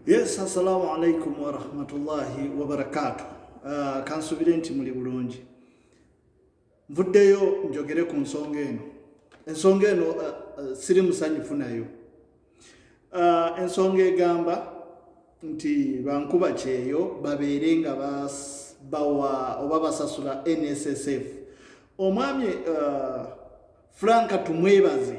Yes, assalamu alaikum warahmatullahi wabarakatu. Uh, ah, kansubire nti muli bulungi. Nvuddeyo njogere ku nsonga eno. Ensonga eno uh, uh, siri musanyufu nayo. Uh, ensonga egamba nti bankuba kyeyo babeere nga bawa oba basasula NSSF. Omwami uh, Frank Tumwebaze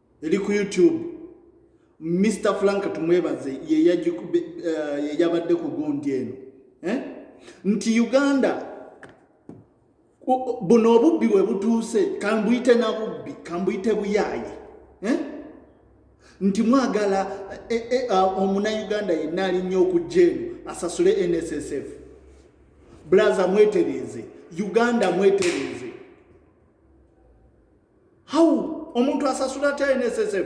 eri ku youtube mr frank tumwebaze yeyabadde eh, ku gundi eno eh? nti uganda buno obubbi bwe butuuse kambuyite na bubbi kambuyite buyaaye eh? nti mwagala omunauganda yenna alinnya okujja eno asasule nssf bulaza mwetereeze uganda mwetereeze how omuntu asasula atya nssf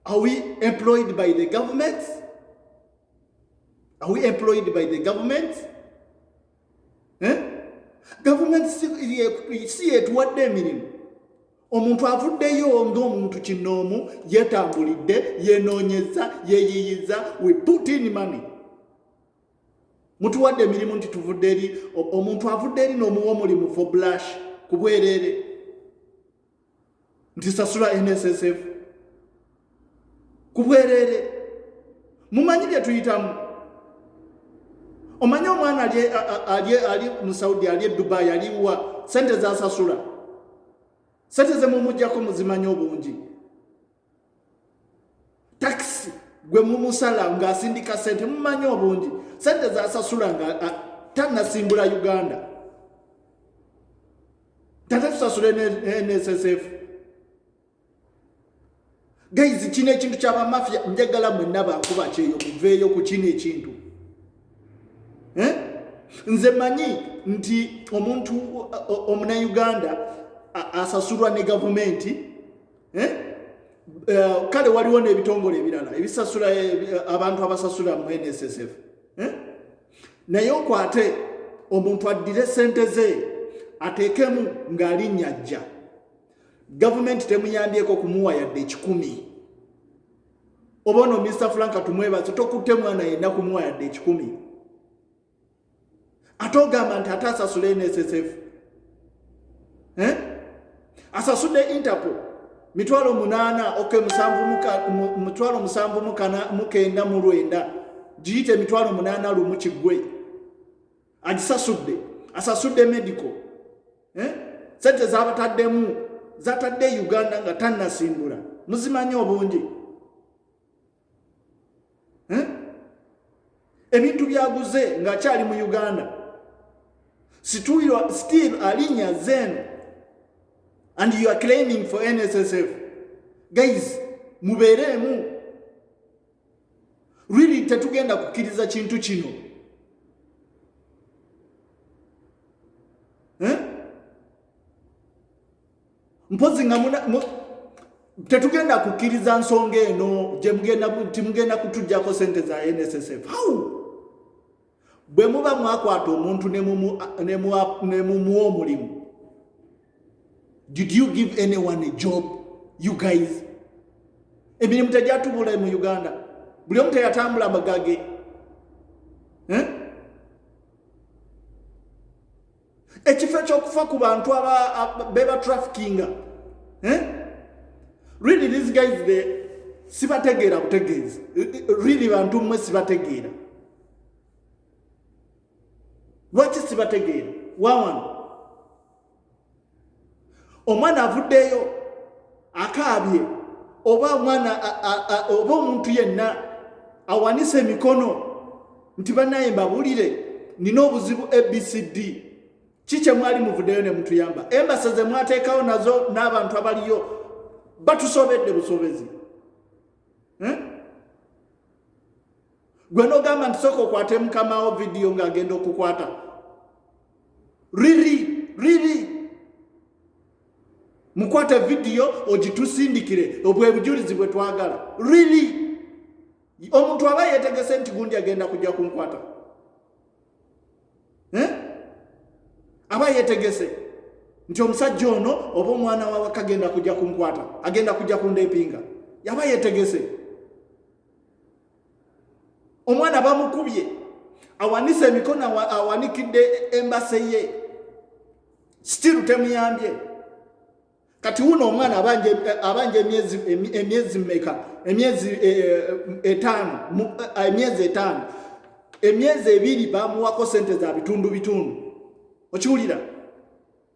are we employed by the government are we employed by the government eh? government si yetuwadde emirimu omuntu avuddeyo ngaomuntu kinoomu yetambulidde yenoonyeza yeyiyiza we put in money mutuwadde emirimu nti tuvudde eri omuntu avudde eri n'omuwa omulimu for blush ku bwereere nti sasula nssf ku bwereere mumanyi bye tuyitamu omanyi omwana ali mu saudi ali edubayi aliwa sente zasasula sente zemumujjako muzimanyi obungi takisi gwe mumusala ng'asindika sente mumanyi obungi sente zasasula nga tanasimbula uganda tata tusasula nssf gaizi kino ekintu kyabamafia njagala mwenna bankuba kyeyo muveeyo ku kino ekintu eh? nze manyi nti omuntu omunauganda asasulwa ne gavumenti eh? Eh, kale waliwo n'ebitongole ebirala ebisasula eh, abantu abasasula mu nssf naye okwate omuntu addire sente ze ateekemu ng'alinnya ajja gavumenti temuyambyeko kumuwa yadde ekikumi oba ono mr frank tumwebaze tokutte mwana yenna kumuwa yadde ekikumi ate ogamba nti ate asasule nssf eh? asasude interpol mitwalo munana ok mitwalo musanvu mukenda mulwenda giyite mitwalo munana lumu kigwe agisasudde asasudde medical eh? sente zabataddemu zatadde e uganda nga tanasimbula muzimanyi obungi eh? ebintu byaguze ng'akyali mu uganda situirwa still alinya zen and you are claiming for nssf guys mubeereemu really tetugenda kukkiriza kintu kino eh? mpozi nga muna tetugenda kukkiriza nsonga eno gyemugenda kutujjako sente za nssf how bwe muba mwakwata omuntu nemumuwa omulimu did you give anyone a job you guys emirimu tegyatubula mu uganda buli omu teyatambula magage eh? ekifo ekyokufa ku bantu beba trafikinga eh? really these guys the sibategeera butegeezi really bantu mmwe sibategeera lwaki sibategeera wawano omwana avuddeyo akaabye oba omwana oba omuntu yenna awanise emikono nti banaye mbabulire nina obuzibu abcd ki kyemwali muvuddeyo ne mutuyamba embasa ze mwateekawo nazo n'abantu abaliyo batusobedde busobezi eh? gwe nogamba nti soka okwate mukamawo vidiyo ngaagenda okukwata riri riri mukwate vidiyo ogitusindikire obwebujulizi bwe twagala riri omuntu aba yetegese nti gundi agenda kujja kunkwata eh? aba yetegese nti omusajja ono oba omwana wawaka agenda kujja kunkwata agenda kujja kundepinga yaba yetegese omwana bamukubye awanise emikono awanikidde embase ye still temuyambye kati wuno omwana abanja emyezi meka emyezi eh, eh, etaano eh, emyezi etaano emyezi ebiri bamuwako sente za bitundu bitundu okiwulira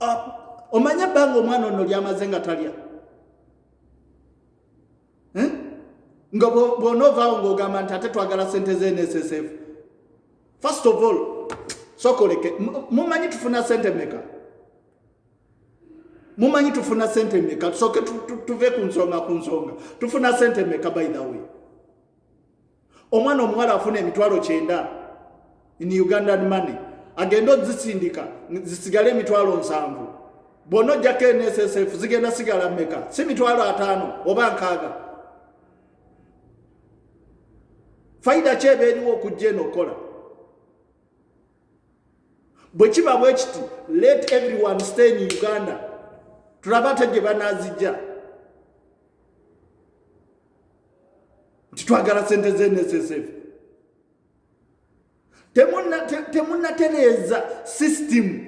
ah, omanye ebbanga omwana ono lyamaze nga talya eh? nga bwonoovaawo ngaogamba nti ate twagala sente z'nssf first of all sokoleke mumanyi tufuna sente meka mumanyi tufuna sente meka tusoke tuve ku nsonga ku nsonga tufuna sente meka by the way omwana omuwala afuna emitwalo kyenda in ugandan money agenda ozisindika zisigale emitwalo nsanvu bwona ojjako nssf zigenda sigala meka si mitwalo ataano oba nkaaga faida ki eba eriwo okujja eno okukola bwe kiba bwe kiti let everyone stay in uganda tulaba ate gye banazijja nti twagala sente ze nssf temunatereeza system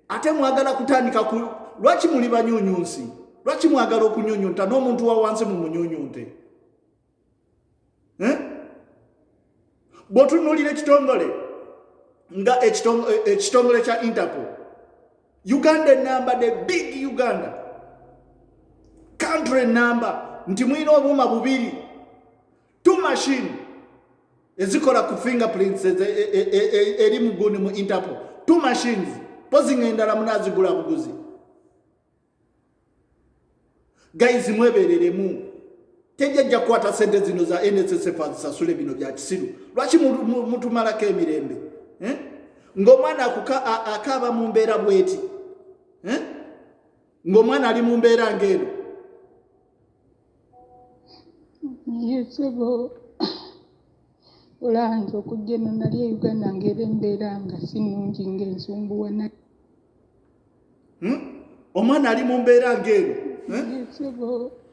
ate mwagala kutandika ku lwaki muli banyunyunsi lwaki mwagala okunyunyunta n'omuntu wa wansi mu munyunyunte eh? bwotunulira ekitongole nga ekitongole kya interpol uganda enamba the big uganda country enamba nti mulina obuuma bubiri two machine ezikola ku fingerprints e, e, e, eri muguni mu interpol two machines pozi nga endala munazigula buguzi guys mwebereremu tejajja kukwata sente zino za nssf azisasule bino bya kisiru lwaki mutumalako emirembe eh? ng'omwana akaaba mu mbeera bweti eh? ng'omwana ali mu mbeera ng'eno yesebo olanze okujja eno nali e uganda ng'era embeera nga si nnungi ng'ensumbuwa hmm? omwana ali mu mbeera ng'eno eh?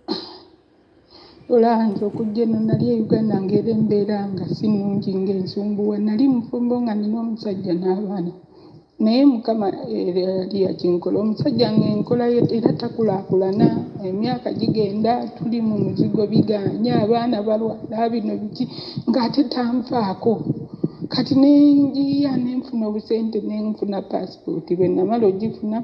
olanze okujja eno nali e uganda ngaera embeera nga si nungi ngaensumbuwa nali mufumbo nga nina omusajja n'abaana naye mukama yali eh, yakinkola omusajja ngaenkola era takulakulana emyaka gigenda tuli mu muzigo biganye abaana balwala bino biki ngaate tanfaako kati nenjiya nenfuna obusente nenfuna paasi Kati bwe namala ogifuna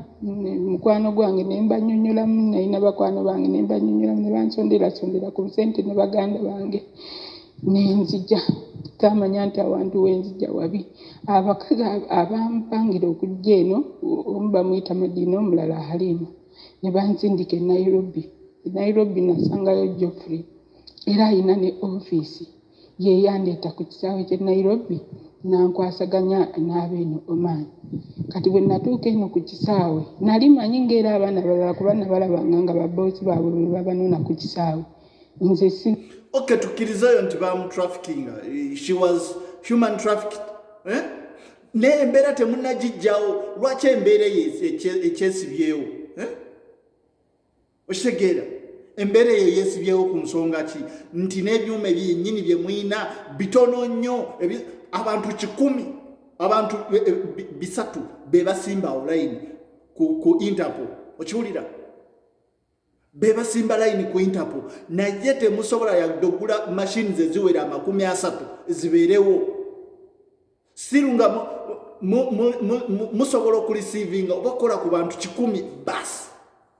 mukwano gwange ne mbanyonyolamu, nalina bakwano bange ne mbanyonyolamu ne bansonderasondera ku busente ne baganda bange ne nzija taamanya nti awantu we nzija wabi. Abakazi abampangira okujja eno omu bamuyita Madiina omulala Haliima ne bansindika e Nairobi. E Nairobi nasangayo Geoffrey era alina ne ofiisi. Ye yandeeta ku kisaawe ky'e Nairobi n'ankwasaganya n'abeeno Oman. Kati bwe natuuka eno ku kisaawe, nali manyi ng'era abaana balala kuba nabalabanga nga babboosi baabwe be babanona ku kisaawe. Nze si. Okay, tukkirize oyo nti baamutrafikinga, she was human trafficked. Eh? Naye embeera temunnagijjawo, lwaki embeera eyo ekyesibyewo? Eh? okitegeera embeera eyo yeesibyewo ku nsonga ki nti n'ebyuma ebyennyini bye mulina bitono nnyo abantu kikumi abantu e, e, bisatu be basimba olayini ku interpo okiwulira be basimba layini ku interpo naye temusobola yadde okugula mashini ze ziwera amakumi asatu zibeerewo siru nga musobola okulisiivinga oba kukola ku bantu kikumi basi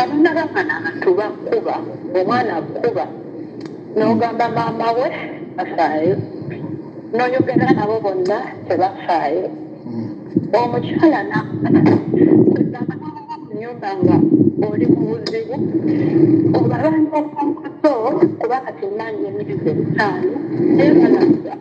Abana bamana abantu bakuba omwana akuba nogamba maama we afaayo noyogera nabo bonna tebafaayo omukyala nyumba nga oli mubuzibu obalangaomukuto kuba kati manya emiruzi ebitaano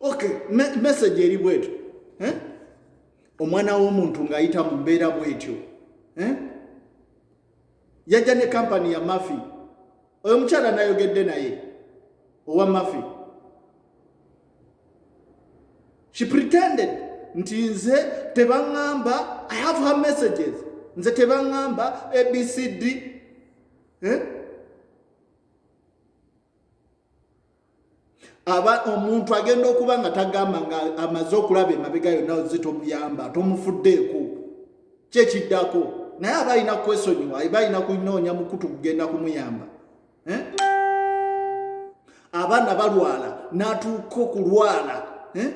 ok message eri bwetyo eh? omwana w'omuntu ng'ayita mu mbeera bwetyo eh? yajja ne kampani ya mafi oyo mukyala nayogedde naye owa mafi she pretended nti nze tebaŋŋamba i have her messages nze tebaŋŋamba abcd eh? aba omuntu agenda okuba nga tagamba nga amaze okulaba emabega yonna oze tomuyamba tomufuddeeko kyekiddako naye aba alina kwesonyiwa aba alina kunoonya mukutu kugenda kumuyamba eh? abaana balwala n'atuuka okulwala eh?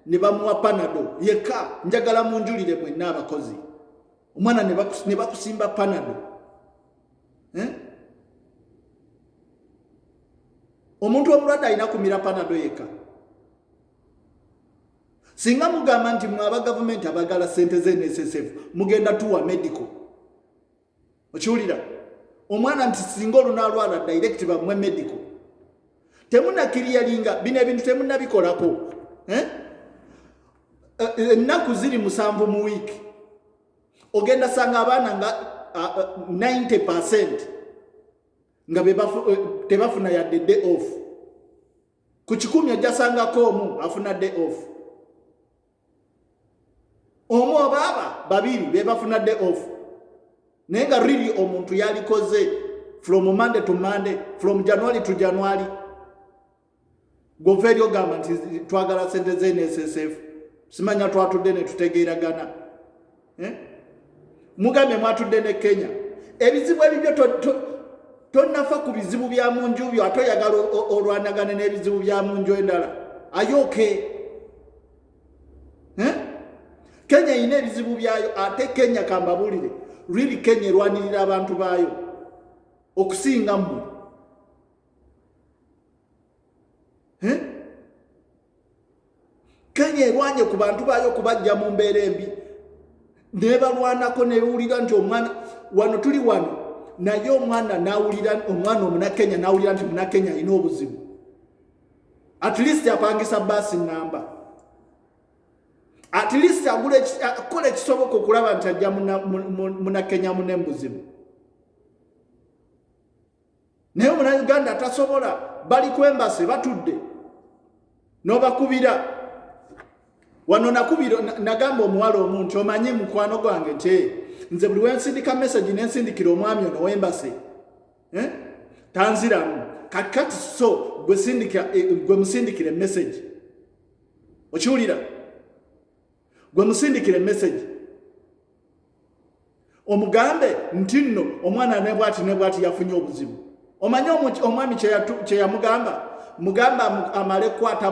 ne bamuwa panado yeka njagala munjulire mwenna abakozi omwana ne bakusimba panado eh? omuntu omulwadde alina kumira panado yekka singa mugamba nti mwe aba gavumenti abagala sente z'enssf mugenda tuwa medical okiwulira omwana nti singa olunalwala direct bamwe medical temunakiriyalinga bino ebintu temunabikolako eh? Eh, ennaku ziri musanvu mu wiiki ogenda sanga abaana nga 90 percent nga eh, tebafuna yadde day off ku kikumi ojjasangako omu afuna day off omu obaaba babiri bebafuna day off naye nga really omuntu yalikoze from monday to monday from january to january goveeri ogamba nti twagala sente ze nssf simanya twatudde netutegeeragana eh? mugambye mwatudde ne kenya ebizibu ebibyo tonafa ku bizibu bya mu nju byo ate oyagala olwanagane n'ebizibu bya mu nju endala ayooke eh? kenya erina ebizibu byayo ate kenya kambabuulire riri kenya erwanirira abantu baayo okusinga mmwe eh? kenya erwanye ku bantu baayo okubajja mu mbeera embi nebalwanako newulira nti omwana wano tuli wano naye omwana nawulira omwana omunakenya nawulira nti munakenya alina obuzibu at least apangisa baasi namba at least akola ekisoboka okulaba nti ajja munakenya mune mubuzibu naye omunayuganda tasobola bali kwembase batudde nobakubira wano nakubira nagamba omuwala omu nti omanyi mukwano gwange nti eh, nze buli wensindika message nensindikira omwami ono wembase eh? tanziramu kakati so gwe eh, musindikira emessage okiwulira gwe musindikire message omugambe nti nno omwana ne bwati ne bwati yafunye obuzibu omanyi omwami kye yamugamba mugamba amale kukwata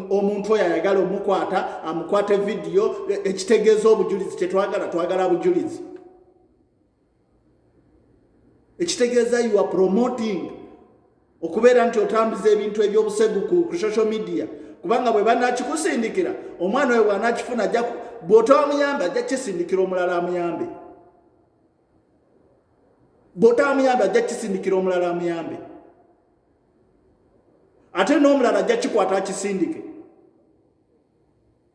omuntu oyo ayagala omukwata amukwate vidiyo e, ekitegeeza obujulizi kyetwagala twagala bujulizi ekitegeeza you are promoting okubeera nti otambuza ebintu ebyobusegu ku social media kubanga bwe banakikusindikira omwana oyo bwanakifuna bwotawamuyambe ajja kisindikira omulala amuyambe bwotawamuyambe ajja kisindikira omulala amuyambe ate n'omulala ajja kikwata akisindike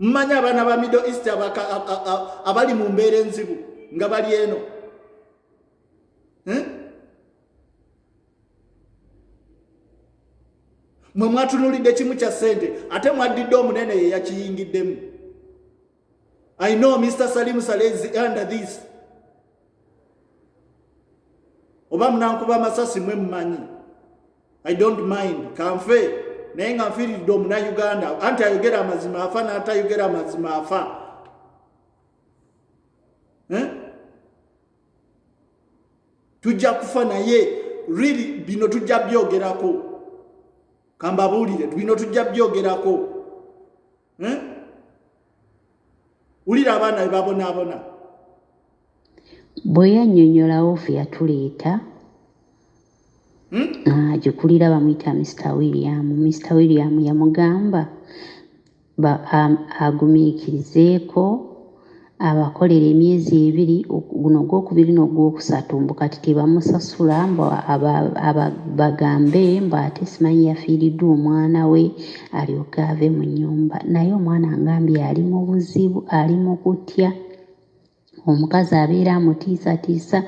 mmanyi abaana ba middle east abali mu mbeera enzibu nga bali eno eh? mwe mwatunulidde kimu kya ssente ate mwaddidde omunene ye yakiyingiddemu i know mr salimu salezi under this oba munankuba amasasi mwe mmanyi i don't mind kanfe naye nga nfiiridde omunauganda anti ayogera amazima afa n'atayogera amazima afa eh? tujja kufa naye really bino tujja byogerako kambabuulire bino tujja byogerako eh? wulira abaana be babonaabona bwe yannyonnyola ofi yatuleeta agikulira hmm? ah, bamuyita mr william mr william yamugamba agumiikirizeeko abakolera emyezi ebiri guno ogwokubiri n'ogwokusatu mbu kati tebamusasula mbu bagambe mbu ate simanyi yafiiriddwa omwana we alyoke ave mu nyumba naye omwana ngambye ali mu buzibu ali mu kutya omukazi abeera amutiisatiisa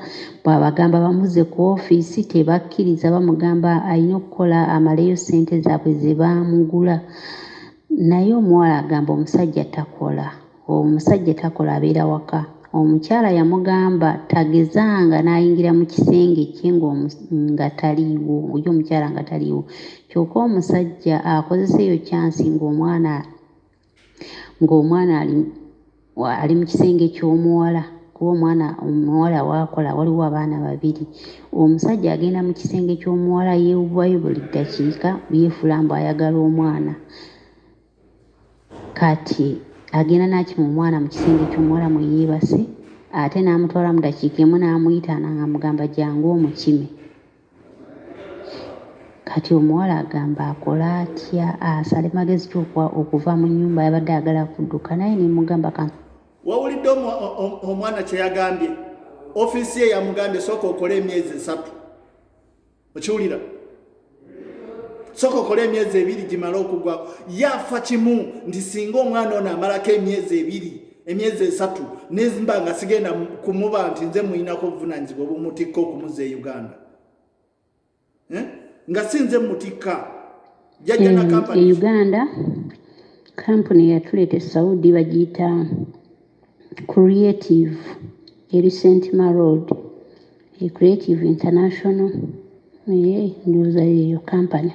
bw'abagamba bamuze ku ofiisi tebakkiriza bamugamba alina okukola amaleyo ssente zaabwe ze baamugula Naye omuwala agamba omusajja takola omusajja takola abeera waka omukyala yamugamba tagezanga nayingira mu kisenge kye nga taliiwo oyo omukyala nga taliiwo kyoka omusajja akozesa eyo kyansi ng'omwana ng'omwana ali ali mu kisenge ky'omuwala kuba omwana omuwala waakola waliwo abaana babiri omusajja agenda mu kisenge ky'omuwala yeewubayo buli ddakiika yeefula mbu ayagala omwana kati agenda n'akima omwana mu kisenge ky'omuwala mwe yeebase ate n'amutwala mu dakiika emu n'amuyita nang'amugamba jangu omukime Kati omuwala agamba akole atya asale magezi ki okuva mu nyumba yabadde agala kuduka naye nemugamba ka wawulidde omwana kyeyagambye ofiisi ye yamugambye sooka okole emyezi esatu okiwulira sooka okole emyezi ebiri gimale okugwako yafa kimu nti singa omwana ono amalako emyezi ebiri emyezi esatu nezimba nga sigenda kumuba nti nze muyinako obuvunanyizibwa obumutikka okumuza e uganda eh? nga si nze mutikka jajja na kampani e uganda kampuni yatuleeta e saudi bagiyita creative eri sentma road He Creative International naye ndowooza yeeyo kampani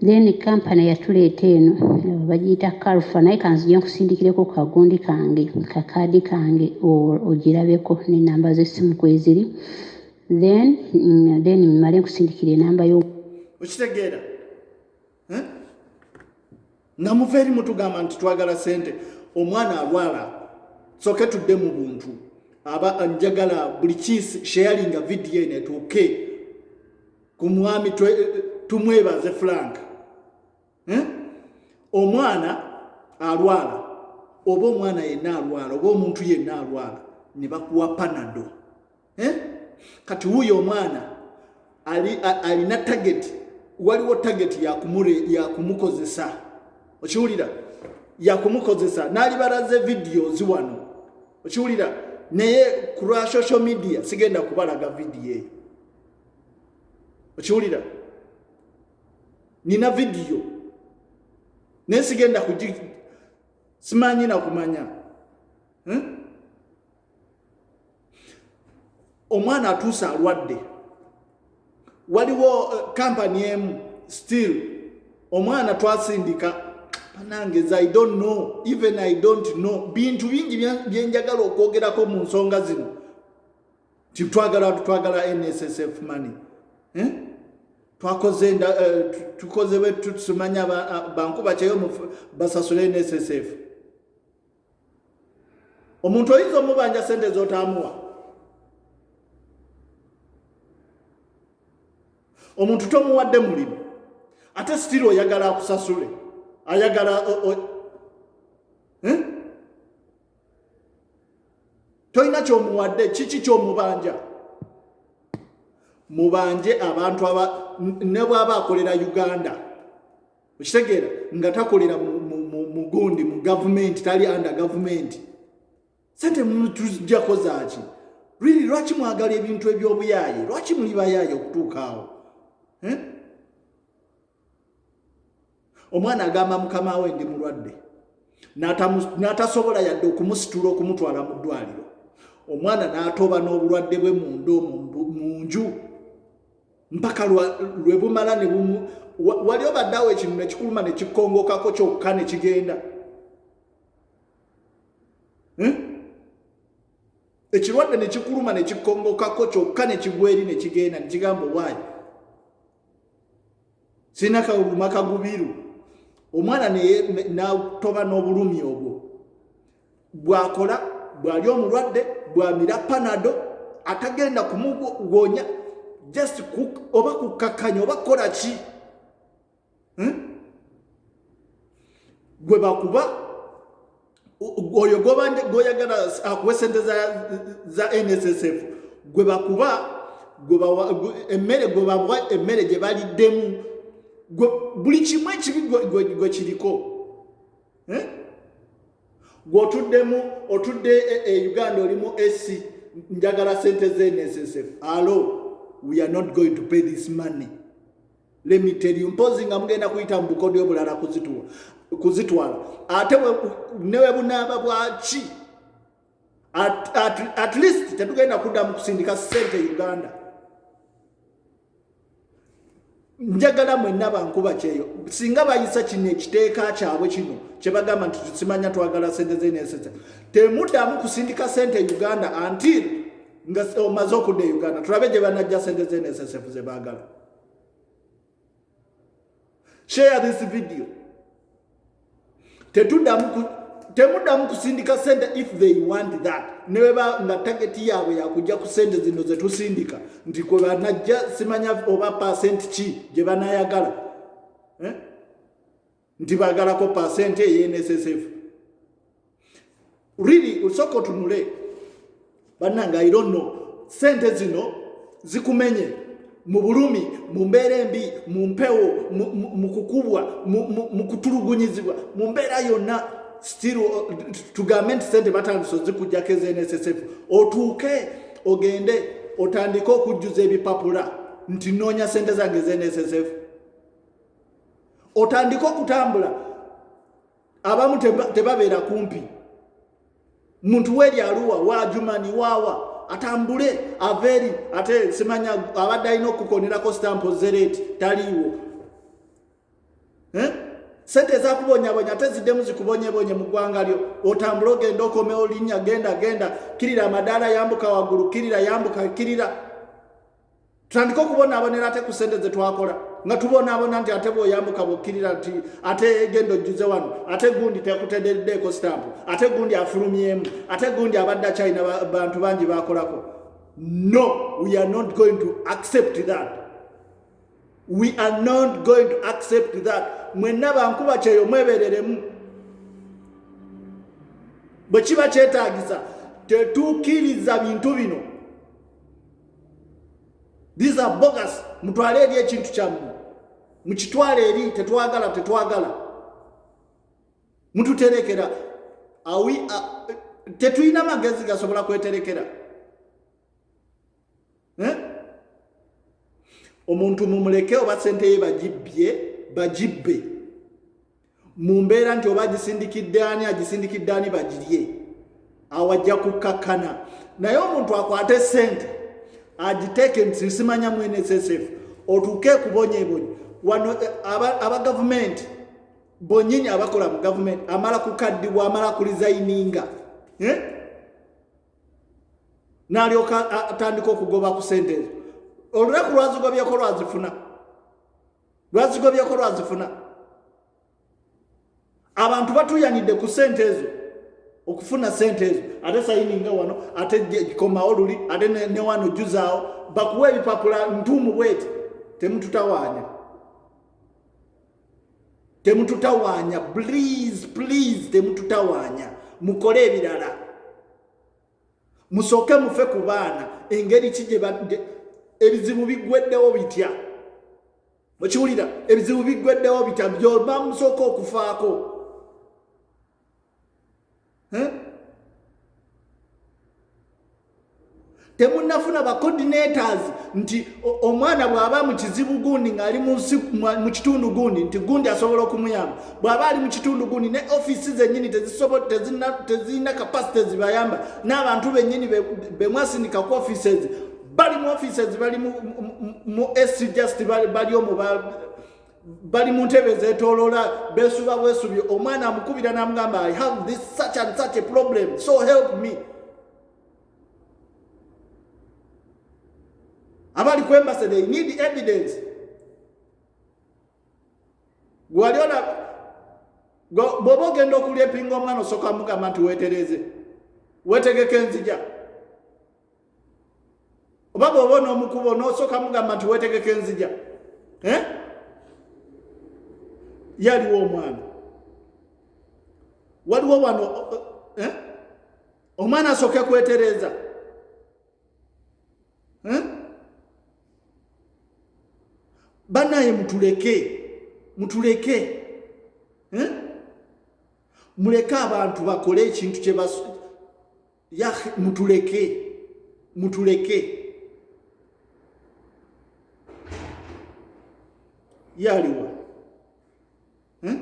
then kampani yatuleeta eno eh, bagiyita kalfa naye kanzije nkusindikireko kagundi kange kakaadi kange ogirabeko nenamba z'essimu kweziri then mm, then mmale nkusindikira enamba yo okitegeera eh? nga muva eri mutugamba nti twagala sente omwana alwala soke tudde mu buntu aba njagala buli kiisi sharinga vidiyo eno etuuke ku mwami tumwebaze frank eh? omwana alwala oba omwana yenna alwala oba omuntu yenna alwala ne bakuwa panado eh? kati wuyo omwana alina tageti waliwo tageti yakumukozesa okiwulira yakumukozesa nalibaraze videos wano okiwulira naye ku lwa social media sigenda kubalaga vidiyo eyo okiwulira nina vidiyo naye sigenda kugi simanyi nakumanya hmm? omwana atuuse alwadde waliwo kampani eh, emu still omwana twasindika banange as i don't know even i don't know bintu bingi byenjagala okwogerako mu nsonga zino nti twagala twagala nssf money eh? twakoze eh, tukoze bwetusimanya bankuba kyeyo basasule nssf omuntu oyinza omubanja sente zotaamuwa omuntu tomuwadde mulimu ate sitiri oyagala akusasule ayagala eh? tolina kyomuwadde kiki kyomubanja mubanje abantu aba ne bwaba akolera uganda okitegeera nga takolera mugundi mu gavumenti tali under gavumenti sente mutujjako zaaki really lwaki mwagala ebintu ebyobuyaaye lwaki muli bayaaye okutuuka awo eh? omwana agamba mukama we ndi mulwadde n'atasobola yadde okumusitula okumutwala mu ddwaliro omwana n'atoba n'obulwadde bwe munda omu mu nju mpaka lwe bumala ne bumu wali obaddawo ekintu ne kikuluma ne kikongokako kyokka ne kigenda hmm? ekirwadde ne kikuluma ne kikongokako kyokka ne kigweri ne kigenda ne kigamba owaayi sirina kawuluma kagubiru omwana natoba n'obulumi obwo bwakola bwali omulwadde bwamira panado atagenda kumugonya just oba kukakkanya oba kukola ki hmm? gwe bakuba oyo goyagala akuwa sente za nssf gwe bakuba emmere gwe bawa emmere gye baliddemu buli kimu ekibi gwe kiriko eh? gwotuddemu otudde e, e, e uganda olimu ac njagala sente zensf alo we are not going to pay this money lemiteri mpozi nga mugenda kuyita mu bukodyo bulala kuzituwa kuzitwala ate newe bunaaba bwaki at, at, at least tetugenda kuddamu kusindika sente uganda njagala mwenna bankuba kyeyo singa bayisa kino ekiteeka kyabwe kino kyebagamba nti tusimanya twagala sente zenesese temuddamu kusindika sente e uganda antil nga omaze okudda e uganda tulabe gye banajja sente zenesesefu zebagala share this video tetudamu temudamu kusindika sente if they want that nebeba nga tageti yaabwe yakujja ku sente zino zetusindika nti kwe banajja simanya oba pasenti ki gye banayagala eh? nti bagalako pasenti eyenssf really usoko tunule bananga i don't know sente zino zikumenye mu bulumi mu mbeera embi mu mpewo mu kukubwa mu kutulugunyizibwa mu mbeera yonna still uh, tugambe nti sente batandise ozikujjako ezenssf otuuke ogende otandike okujjuza ebipapula nti noonya sente zange ezenssf otandike okutambula abamu tebabeera kumpi muntu weri aluwa wajumani wawa atambule aveeri ate simanya abadde alina okukukonerako sitampo zereeti taliiwo eh? sente ezakubonyabonya ate ziddemu zikubonyebonye mu ggwanga lyo otambule ogenda okomewo linnya genda genda kirira amadaala yambuka waggulu kirira yambuka kirira tutandike okubonaabonera ate ku sente zetwakola nga tubonaabona nti ate bwoyambuka bwokkirira nti ate genda ojjuze wano ate gundi tekutederdeeko sitampu ate gundi afulumyemu ate gundi abadde akyalina bantu bangi bakolako no we are not going to accept that we are not going to accept that mwenna bankuba kyeyo mwebereremu bwe kiba kyetagisa tetukiriza bintu bino these are bogus mutwale eri ekintu kyammwe mukitwale eri tetwagala tetwagala mututerekera awi tetulina magezi gasobola kweterekera eh? omuntu mumuleke oba sente ye bagibbye bagibbe mu mbeera nti oba agisindikidde ani agisindikidde ani bagirye awo ajja kukkakkana naye omuntu akwate ssente agiteeke nti nsimanya mu nssf otuuke kubonyebonyi wano eh, aba gavumenti bonyini abakola mu gavumenti amala kukaddibwa amala kulizayininga eh? nalyoka atandika okugoba ku sente ezo olunaku lwazigobyeko lwazifuna lwazigobyeko lwazifuna abantu batuyanidde ku sente ezo okufuna sente ezo ate sayininga wano ate komawo luli ate newano juzaawo bakuwa ebipapula ntuumu bweti temututawaanya temututawaanya please please temututawaanya mukole ebirala musooke mufe ku baana engeri ki gye badde ebizibu biggweddewo bitya okiwulira ebizibu biggweddewo bitya byoba musooka okufaako temunafuna ba coordinators nti omwana bw'aba mu kizibu gundi ng'ali mu kitundu gundi nti gundi asobola okumuyamba bw'aba ali mu kitundu gundi ne ofiisi zennyini tezirina kapasite zibayamba n'abantu bennyini bemwasindika ku ofiisi ezi bali mu ofiisi ezi bali mu ac just bali omu bali mu ntebe zetoloola besuba bwesubi omwana amukubira n'amugamba i have this such and such a problem so help me abali ku embassy they need evidence gwali ona bwoba ogenda okulya epinga omwana osooka mugamba nti wetereze wetegeka enzija oba bwoba onomukubo nosooka mugamba nti wetegeka enzija eh? yaliwo omwana waliwo wano eh? omwana asooke kwetereeza eh? banaye mutuleke mutuleke eh? muleke abantu bakole ekintu kyebas ya mutuleke mutuleke yaliwa eh?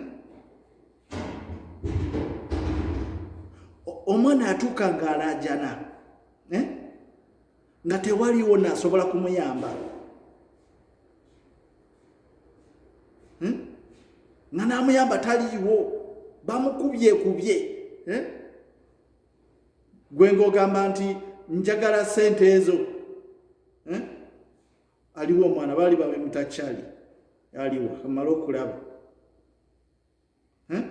omwana atuuka ng'alaajana eh? nga tewaliwo naasobola kumuyamba eh? nga naamuyamba taliiwo bamukubye kubye eh? gwe ng'ogamba nti njagala sente ezo eh? aliwo omwana baali bamemutakyali aliwo amala okulaba eh?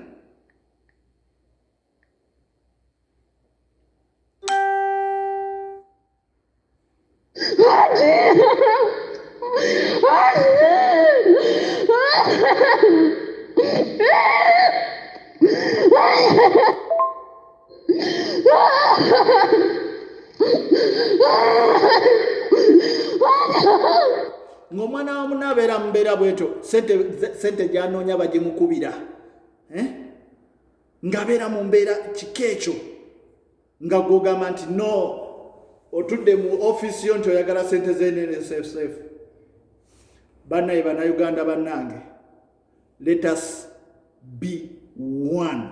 ng'omwana wa muna abeera mubeera bwetyo sente gyanoonya bagimukubira eh? ng'abeera mu mbeera kika ekyo nga gwogamba nti no otudde mu ofiisi yo nti oyagala sente zenene sefsefu banaye banauganda banange let us be one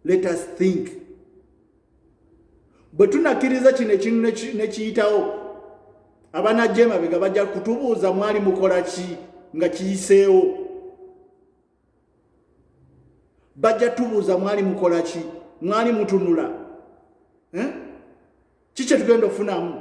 let us think bwe tunakkiriza kino ekintu nekiyitawo abanajja emabega bajja kutubuuza mwali mukola ki nga kiyiseewo bajja tubuuza mwali mukola ki mwali mutunula eh? ki kyetugenda okufunamu